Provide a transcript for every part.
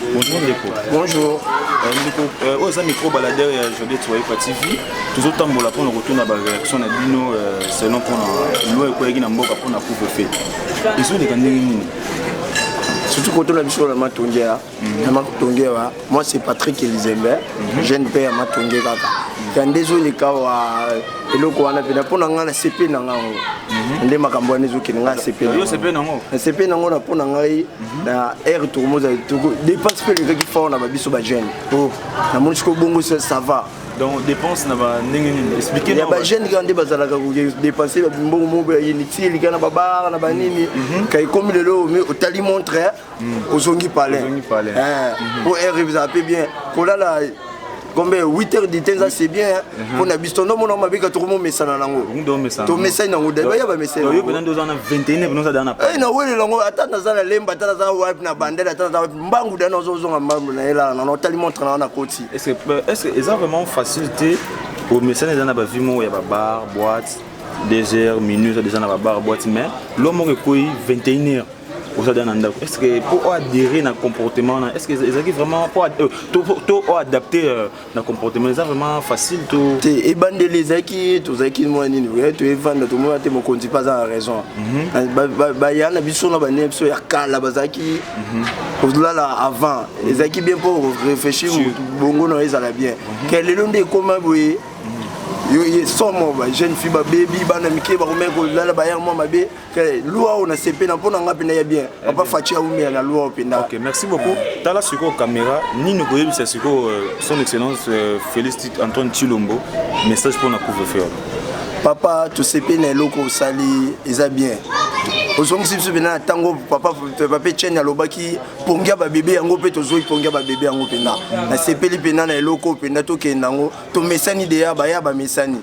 Bonjour ndeko. Bonjour. Euh, ndeko euh, oyo eza micro baladeur ya Jode Tsoyepa TV. Tozotambola mpo na kotuna ba réaction na bino euh, selon mpo na loi ekweyaki na mboka mpo na couvre-feu. Ezoleka ndenge nini? surtout koto na biso na matonge ya na matonge wa moi c'est patrick elizembe mhm. jeune père ya matonge kaka ya nde ezoleka wa eloko wana mpena mpo na ngai na sepe na ngai yango mhm. nde makambo wana ezokende ngai na sepe na ngai na mpo na ngai na aire tokomoza toko dépense mpe elekaki fort na babiso ba jeune o oh, namoni sikoyo bongo ça va donc dépense na ba ndenge nini expliquer ya ba jeune kaka nde bazalaka ko dépenser ba mbongo moko ya inutile lika na babara na banini mhm. ka ekomi lelo mais otali montre mhm. ozongi palais ozongi palais eh, mhm. po aire bizala mpe bien kolala gombe 8 heures du temps c'est bien mpo mhm. na biso ndo mona mabika tokomomesana nango tomesani nango dai baya bamesaninawelela yango ata naza na lemba ata naza wapi na bandele ata naza wapi mbangu dai nazozonga mbangu na elala nano otali montre na wana koti eza vraiment facile te omesana eza na bavie moko ya babar boite 2 heures minuit eza déjà na babar boite mais lo moko ekweyi 21 heures oza deja na ndako est ce que mpo oadere na comportement wana est ce que ezalaki vraiment euh, to oadapte euh, na comportement eza vraiment facile to te ebandeli ezalaki tozalaki mwa nini oye toevanda tomona te mokonzi mpe aza na raison mhm. baya na biso na bane biso ya kala bazalaki mhm. kozolala avant mhm. ezalaki bien mpo réfléchir bongo na ezala bien ke lelo nde ekoma boye yo ye somo ba jeune fille babebi bana mike bakomeki kolala bayere mwa mabe Très, lua oyo nasepeli na mpo na ngai mpenza ya bien eh papa faci aumela na lua oyo mpenza ok merci beaucoup tala sikoyo kamera nini okoyebisa sikoyo euh, son excellence euh, félix antoine chilombo message mpo na couvre feu papa tosepeli na eloko osali eza bien ozongisi biso mpena na ntango papa pape chene alobaki pongia babebe yango mpe tozoi pongia babebe yango mpena nasepeli mpena na eloko mpena tokende yango tomesani deya baya bamesani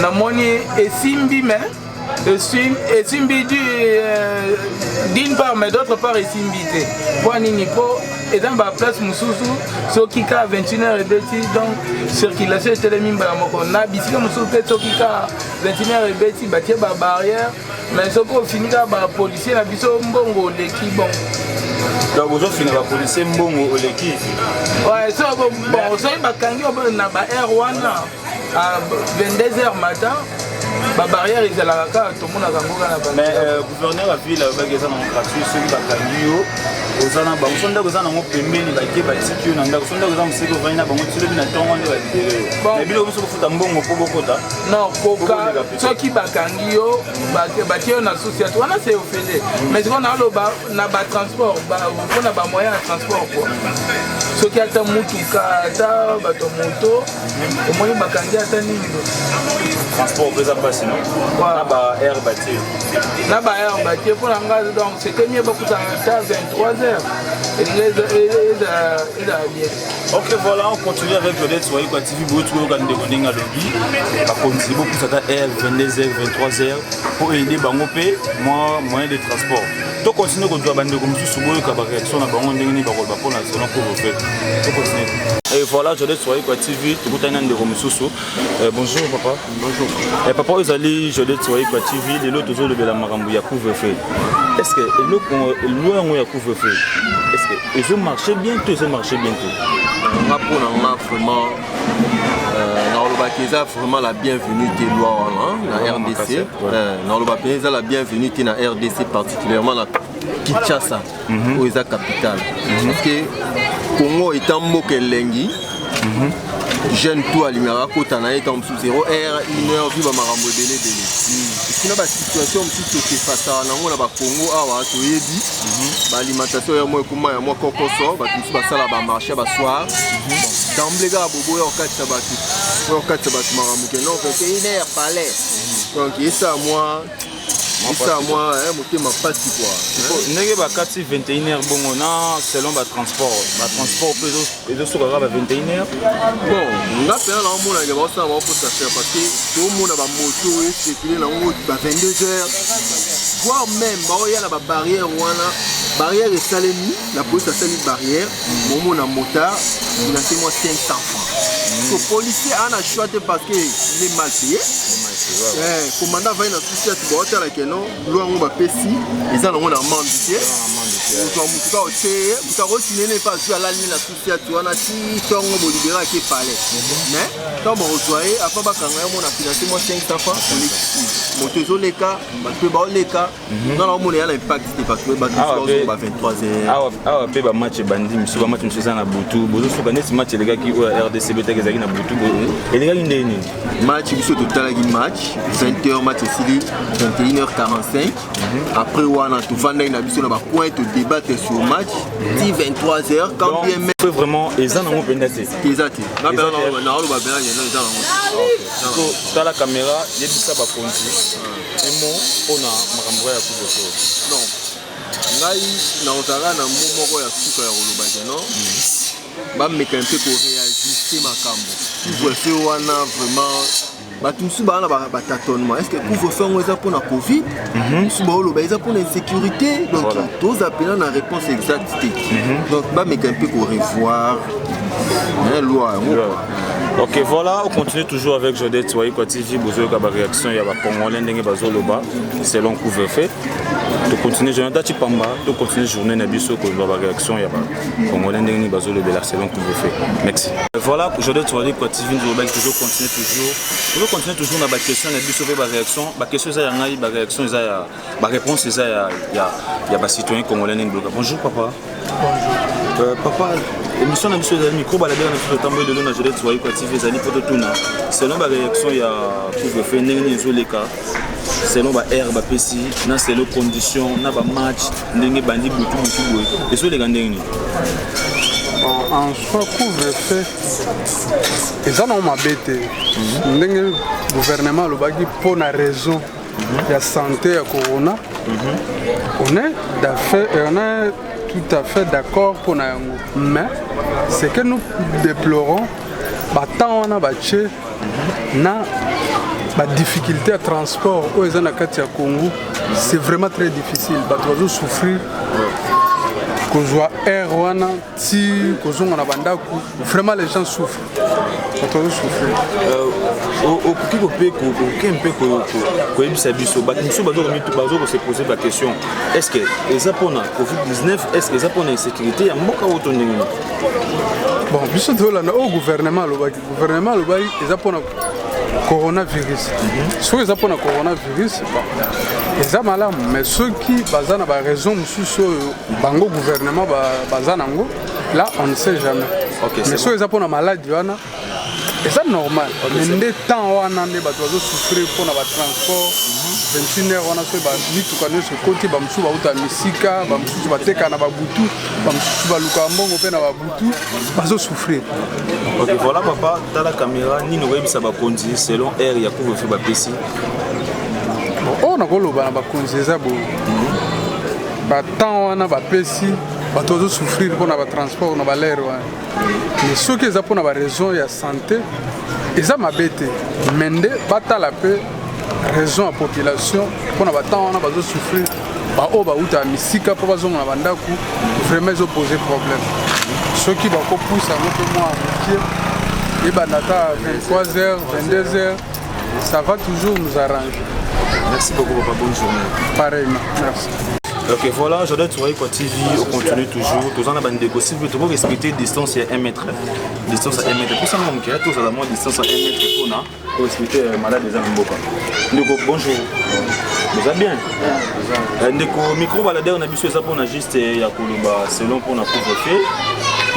namoni esimbi me esimbi euh, d'une part mais d'autre part esimbi te mpo nini mpo eza na baplace mosusu soki ka 21 heure ebeti donc circulation etelemi mbala moko na bisika mosusu mpe soki ka 21 heure ebeti batie babarrière mais soki ofini kaka bapolisier na biso mbongo oleki bon donc ozofina bapolisier mbongo oleki soki bakangi na ba aire wana à 22h matin babarrière ezalaka kaka tomonaka yango kaka na mais euh, gouverneur ya ville alobaki eza nango gratuit soki bakangi yo oza na bango so ndako eza nango pembeni bake batiki yo na ndako so ndako eza moseki ovandi na bango tilobi na ntongo nde balibere yo na bino biso kofuta mbongo mpo bokota non koka soki bakangi yo batie yo na susi ati wana se ofele mm. mais sikoyo naoloba na batransport mpo na bamoyen ya transport po soki ata motuka ata bato moto omoni bakangi ata nini transport mpe eza mpasi no na ba aire batie na ba aire batie mpo na ngai donc c'était mieux bakutana ta 23 heures ezala bien ok voilà on continue avec le lettre wayi kwa tv boye tokoyoka ndeko ndenge alobi bakonzi bopusa ata aire 22 heures 23 heures mpo aide bango mpe moyen de transport to continue kozwa bandeko mosusu boyoka bareaction na bango ndenge nini bakoloba mpona zona couvre-feu to continue Et voilà, je laisse soyez quoi TV, tout le monde de Romususu. Euh, bonjour papa. Bonjour. Et eh, papa, vous allez, je laisse soyez quoi TV, les autres autres de la Marambo ya couvre-feu. Est-ce que le loin où ya couvre-feu, est-ce que ils ont marché bientôt, ils ont marché bientôt. On va prendre vraiment nakolobaka eza vraiment la bienvenue te loi wana na rdc euh, nakoloba mpenza eza la bienvenue te na rdc particulièrement na kinshasa mhm. oyo eza capitale mhm. parce que congo eta mboka elengi mhm. jeune to alingaka akota na ye ntango mosusu zero r une heure viva makambo ebele ebele esina basituation mosusu tokefasaka nango na bakongo awa toyebi baalimentation yango mbuma ya mwa kokoso bato mosusu basala bamarche ya basoir damble kaka boboya kokatisa bato oyo kokatisa bato makambo ke non peke une heure palais donc esa mwa esa mwa motema mpasi kua ndenge bakati 21 heure bongo na selon batransport batransport mpe ezosuka kaka ba 21 heure bon nga mpena naomona ke baosala baokosa cher parce que toomona bamoto esekile nango ba 22 heures voire même baoya na babarrière wana barrière esalemi la police asali barrière momona motard finance mwa 500 francs so policier ana choix te parce que le mal payé commandant avai na susi ati baotalakeno Loi yango bapesi eza nango na mande te ozwa motu ka oteye motu akotine ne mpe azwi alali na susi ati wana ti ntongo bolibere ake pale mais ntango bakozwa ye apa bakanga yango na finance mwa 500 francs olekisi moto ezoleka bato mpe baoleka nga na omona ya na impact te parce que bato mosusu baozonga ba 23 heures awa awa mpe bamatch ebandi mosusu bamatch mosusu eza na butu bozosuka neti match elekaki oyo ya rdc betaki ezalaki na butu boye elekaki ndenge nini match biso totalaki match 20h match esili 21h45 après wana tofandaki na biso na bacoin todebattre sur match ti 23h quand bien même pe vraiment eza nango mpenza te eza te naoloba mpenza yeno eza nango tala kamera yebisa bakonzi emo mpo na makambo ya kuboso ngai nakozalaka na mo moko ya suka ya koloba te non bameka mpe koreajuste makambo couvre-feu wana vraiment bato mosusu baa na batatonnement est ce que couvre-feu yango eza mpona covid mhm. mosusu baoloba eza mpona insécurité donc toza mpena na réponse exacte te mhm. donc bameka mpe korevoir loi yango Ok, voilà, on continue toujours avec Jodé Tsouaï Kwatiji, Bozoyoka, la réaction, il y a la Congolais, Ndenge Bazoloba, selon couvre-feu. Tu continues, Jonathan Chipamba, tu continues journée Nabiso, la réaction, il y a congolais ndenge nini bazolobela selon couvre-feu merci voilà aujourd'hui tozali kwa tv nzolobaki tozo continue toujours tozo continue toujours na baquestion na biso mpe baréaction baquestion eza ya ngai baréaction eza ya baréponse eza ya, ya, ya bacitoyen congolais ndenge biloka bonjour papa bonjour euh, papa émission na biso ezali micro balabela na biso totamboli lelo na jode tozali kwa tv ezali mpo totuna selon baréaction ya couvre-feu ndenge nini ezoleka selon ba aire bapesi na selon condition na bamatch ndenge ebandi butu butu boye ezoleka ndenge nini en soi couvre feu eza nango mabe te mhm. ndenge gouvernement alobaki mpo na raison mhm. ya santé ya corona mhm. on est euh, tout à fait d'accord mpo na yango mais ce que nous déplorons batemps wana batie na ba difficulté ya transport oyo eza na kati ya congo c'est vraiment très difficile bato bazosouffrir kozwa air wana ti kozonga na bandako vraiment les gens souffrent bato bazosouffrir euh, okoki kope oke mpe koyebisa biso bato mosusu bazo kosepose baquestion est ce que eza mpona covid-19 est ce que eza mpona insécurité ya mboka oyo to ndenge bon biso tolanda oyo gouvernement alobaki Gouvernement alobaki eza mpona coronavirus mhm. soki eza mpona coronavirus eza malamu mais soki baza na baraison mosusu oyo bango gouvernement baza nango là on ne sait jamais okay, mais soki eza mpona maladi wana eza normal mais nde temps wana nde bato bazosouffrir mpona batransport 21 mhm. heure wana soki bamituka nyonso ekoti bamosusu bauta misika bamosusu bateka na babutu bamosusu balukaka mbongo mpe na babutu tout bazo souffrir ok voilà papa tala caméra nini okoyebisa bakonzi selon aire ya couvre-feu bapesi oyo oh, nakoloba na bakonzi eza bo mhm. batemps wana bapesi bato bazo souffrir mpona batransport na balere wana mais soki eza mpona baraison ya santé eza mabe te mais nde batala mpe raison ya population mpona batemps wana bazo souffrir baoyo bauta misika mpo bazonga na bandako vraiment ezo pose problème soki bakopusa yango mpe mwa mokie ebanda ata 23 heures 22 heures ça va toujours nous arranger merci beaucoup papa bonne journée pareillement merci Ok, voilà, j'adore Touré quoi TV, on continue toujours. Tous en avons des gossips, mais tout respecter distance à 1 mètre. Distance à 1 mètre. Pour ça, mon cœur, tous à la moins distance à 1 mètre. koexplike euh, malade eza na mboka ndeko bonjour boza bien euh, ndeko micro baladere na biso eza mpona juste euh, ya koloba selon mpona couvre-feu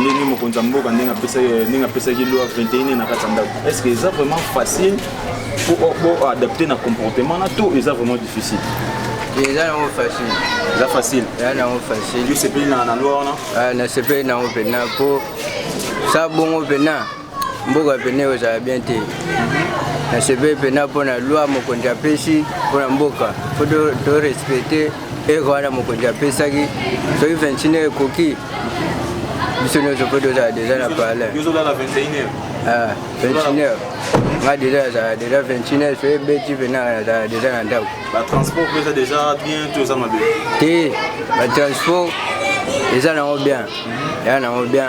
ndenge mokonzi ya mboka ndenge apesaki loi 21 na kati ya ndako est ce que eza vraiment facile pour adapter na comportement na to eza vraiment difficile eza nango facile eza facile eza nango facile yo sepeli na loi wana nasepeli nango mpena mpo sa bongo mpena mboka pene ekozala bien te nasepeli mpena mpo na loi mokonzi apesi mpo na mboka mpo torespecte ere wana mokonzi apesaki soki 21 heure ekoki biso nyonso mpo tozala deja na parler 21 ah, heure nga deja azala deja 21 heure soki ebeti mpena azala deja na ndako te batransport eza nango bien eza nango bien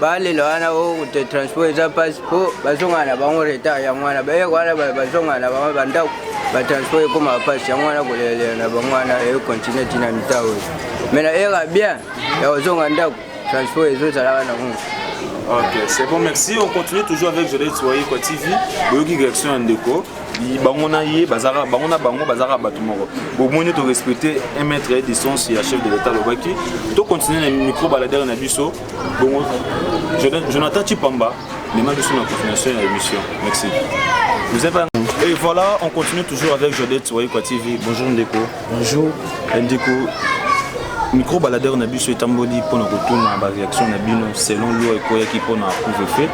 balela wana okute oh, transport eza mpasi mpo bazongana na bango retard yango wana bayeke wana bazongana na bango bandako batransport ekómaka mpasi yango wana kolelalela na bango wana ekontinue ntina mita oyo mai na era bien ya kozonga ndako transport ezozalaka na ngo Ok, c'est bon, merci. On continue toujours avec Jolene Soye quoi TV. Boyoki direction ya ndeko. bango na ye bazalaka bango na bango bazalaka bato moko bomoni torespecte un mètre ya distance ya chef de l'état alobaki tocontinue na micro baladere na biso bongo jonathan chipamba mema biso na confirmation ya émission merci vous avez Et voilà, on continue toujours avec Jodette Waikwa TV. Bonjour Ndeko. Bonjour. Ndeko, micro baladeur na biso etamboli mpo na kotuna baréaction na bino selon loi ekweyaki mpo na couvre-feu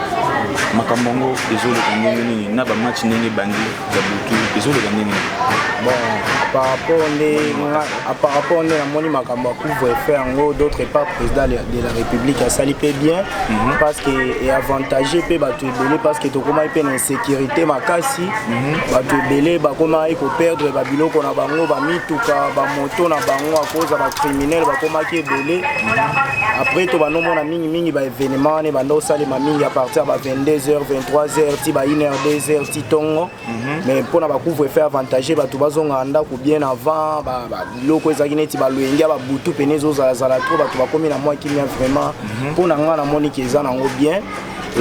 makambo yango ezoleka ndenge nini na bamatch ndenge ebandi ya butu ezoloba ndenge bon par rapport nde par rapport nde namoni makambo ya couvre feu yango d'autre part président de la république asali mpe bien mhm. parce que eavantage mpe bato ebele parce que tokomaki mpe na insécurité makasi mhm. bato ebele bakomaki koperdre babiloko na bango bamituka bamoto na bango akoza bacriminel bakomaki ebele mhm. après to banomona mingimingi baévénement wana ebanda osalema mingi à partir ya ba 22 heures 23 heures ti ba 1 heure 2 heures tongo mais mpo na bacouvre fait avantage bato bazongaka ndako bien avant biloko ezalaki neti baloyenge ya babutu mpene ezozalazala trop bato bakomi na mwa kimia vraiment mpo na ngai namoni ke eza nango bien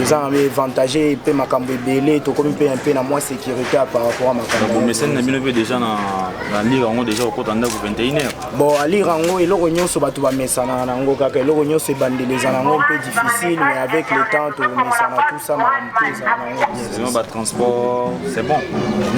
eza na avantage mpe makambo ebele tokomi mpe mpe na mwa sécurité par rapport ya makambomesani na bino mpe déjà na lire yango déjà okota ndako 21 heure bon alire yango eloko nyonso bato bamesanaka na yango kaka eloko nyonso ebandeli eza na yango mpe difficile mais avec le temps tomesana tout ça makambo mpe ezala selon ba transport c'est bon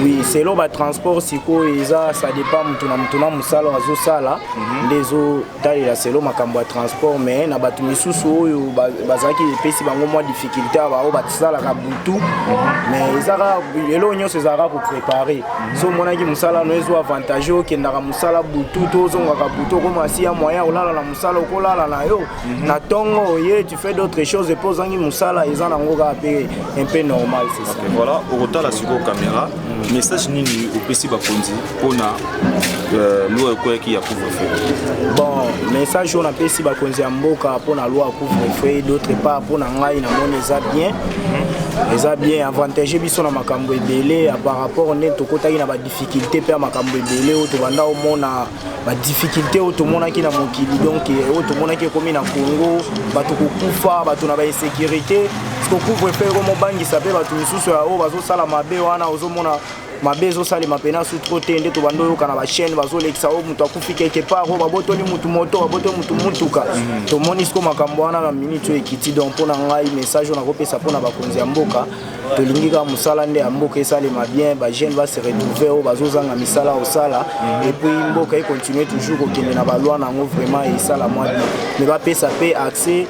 oui selon ba transport sikoyo eza ça dépend motu na motu na mosala oyo azosala mhm. nde ezotalela selon makambo ya transport mais na bato misusu oyo bazalaki epesi bango mwa difficulté ya baoyo basalaka butu mhm. mais eza kaka eloko nyonso ezalaka koprépare mhm. so omonaki mosala no ezo avantage okendaka mosala butu to ozongaka butu okomasi ya moyen olala na mosala okolala na yo na ntongo oye fait d'autres choses mpe ozangi mosala eza nango kaka mpe un peu normal c'est ça voilà okotala sikoyo caméra message nini opesi bakonzi mpona euh, loi ekweyaki ya couvre-feu bon message oyo napesi bakonzi ya mboka mpona loi ya couvre-feu d'autre part mpona ngai namoni eza bien mhm. eza bien avantage biso na makambo ebele par rapport nde tokotaki na badifficulté mpe ya makambo ebele oyo tobanda omona ba difficulté oyo tomonaki na mokili donc eh, oyo tomonaki ekomi na congo bato kokufa bato na bainsécurité kokufa epe ekomobangisa mpe bato mosusu ya oyo bazosala mabe wana ozomona mabe ezosalema mpena su tro te nde tobanda oyoka na bachaine bazolekisa oyo moto akufi quelque part oyo babotoli motu moto babotoli motu motuka tomoni siko makambo wana na minute oyo ekiti donc mpo na ngai message oyo nakopesa mpo na bakonzi ya mboka tolingi kaka mosala nde ya mboka esalema bien bajeune base retrouve oyo bazozanga misala kosala mhm. epuis mboka econtinue toujours kokende na balwa na yango vraiment esala mwa bien me bapesa mpe accès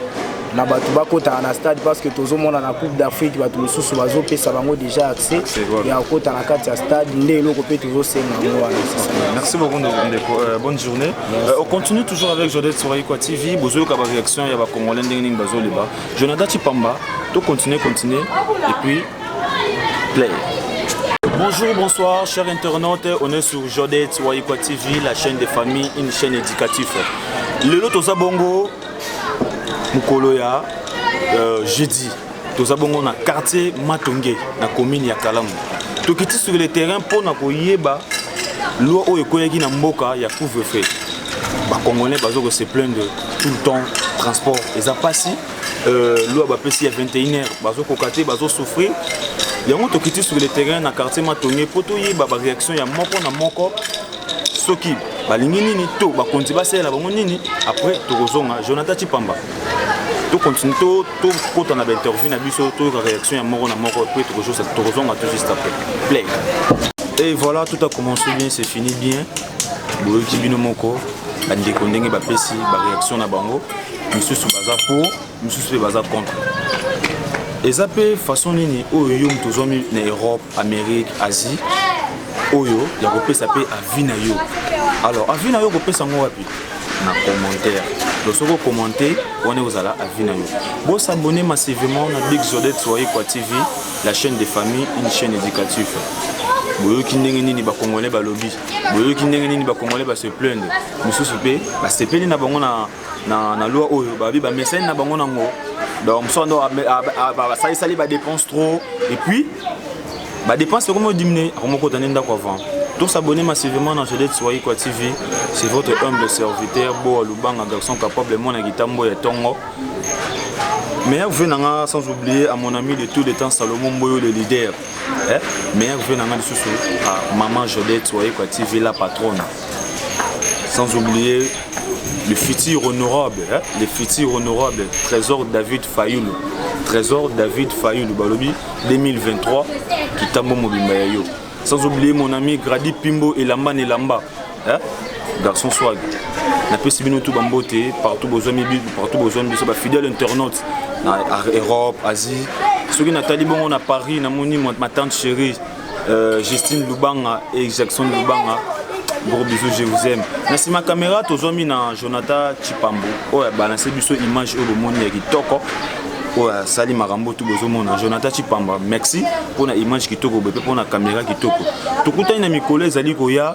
na bato bakotaka na stade parce que tozomona na coupe d'afrique bato mosusu bazopesa bango déjà accès ya kokota na kati ya stade nde eloko mpe tozosenga yango wana merci beaucoup ndeko euh, bonne journée euh, on continue toujours avec jodel soraikwa tv bozoyoka baréaction ya bacongolais ndenge nini bazoloba Jonathan Chipamba, to continuer, continuer, et puis play. Bonjour, bonsoir, chers internautes. On est sur Jodet Waikwa TV, la chaîne des familles, une chaîne éducative. Le lot aux abongo, Mukoloya, euh, jeudi. Toza bongo na quartier Matonge, na commune ya Kalamu. Tokiti sur le terrain pour na koyeba loi oyo ekoyaki na mboka ya couvre-feu. Ba Congolais bazo ko se plaindre tout le temps transport eza mpasi euh, loi bapesi ya 21 heure bazokoka te bazosouffrir yango tokiti sur le terrain na quartier matonge mpo toyeba baréaction ya moko na moko soki balingi nini to bakonzi basalela bango nini après tokozonga jonathan chipamba tokontinue tokota na bainterview na biso toyoka réaction ya moko na moko mpe tokozonga tout juste après play et voilà tout a commencé bien c'est fini bien Boyoki bino moko ba ndeko ndenge ba pesi ba reaction na bango, misusu baza pour, misusu pe baza contre. Eza pe façon nini oyo yo moto ozwami na Europe, Amerique, Asie oyo ya kopesa pe avis na yo. Alors avis na yo kopesa ngo wapi? Na commentaire. Donc soki okommente wana ekozala avis na yo. Bo s'abonner massivement na Big Zodette Soyekwa TV. La chaîne de famille, une chaîne éducative. boyoki ndenge nini bacongolais balobi boyoki ndenge nini bacongolais base plaindre mosusu mpe basepeli na bango na, na, na loi oyo babi bamesani na bango nango donc mosusu ando basalisali badepense trop et puis badepense ekomi odimine akomokota nde ndako avant Tous abonnés massivement dans Jodette Swahikwa TV. C'est votre humble serviteur, Boa Lubanga, garçon capable, mon Agitambo et Tongo. meilleur vue na nga sans oublier à mon ami de tous les temps Salomon Mboyo le leader eh? meilleur vue na nga lisusu à maman Jodette Wayekwa TV la patronne sans oublier le futur honorable hein? le futur honorable Trésor David Fayoulou Trésor David Fayoulou balobi 2023 kitambo mobimba ya yo sans oublier mon ami Grady Pimbo elamba na elamba Hein? Garçon swag. Na pesi bino tout bambote partout besoin mibi partout besoin biso ba fidèles internautes na Europe, Asie. Soki natali bongo na Paris na moni ma tante chérie euh, Justine Lubanga et Jackson Lubanga. Gros bisous, je vous aime. Na sima caméra tozwami na Jonathan Chipambo oyo abalanse biso image oyo bomoni ya kitoko oyo asali makambo tu bozomona jonathan chipamba merci mpo na image kitoko boye mpe mpo na kamera kitoko tokutani na mikolo ezali koya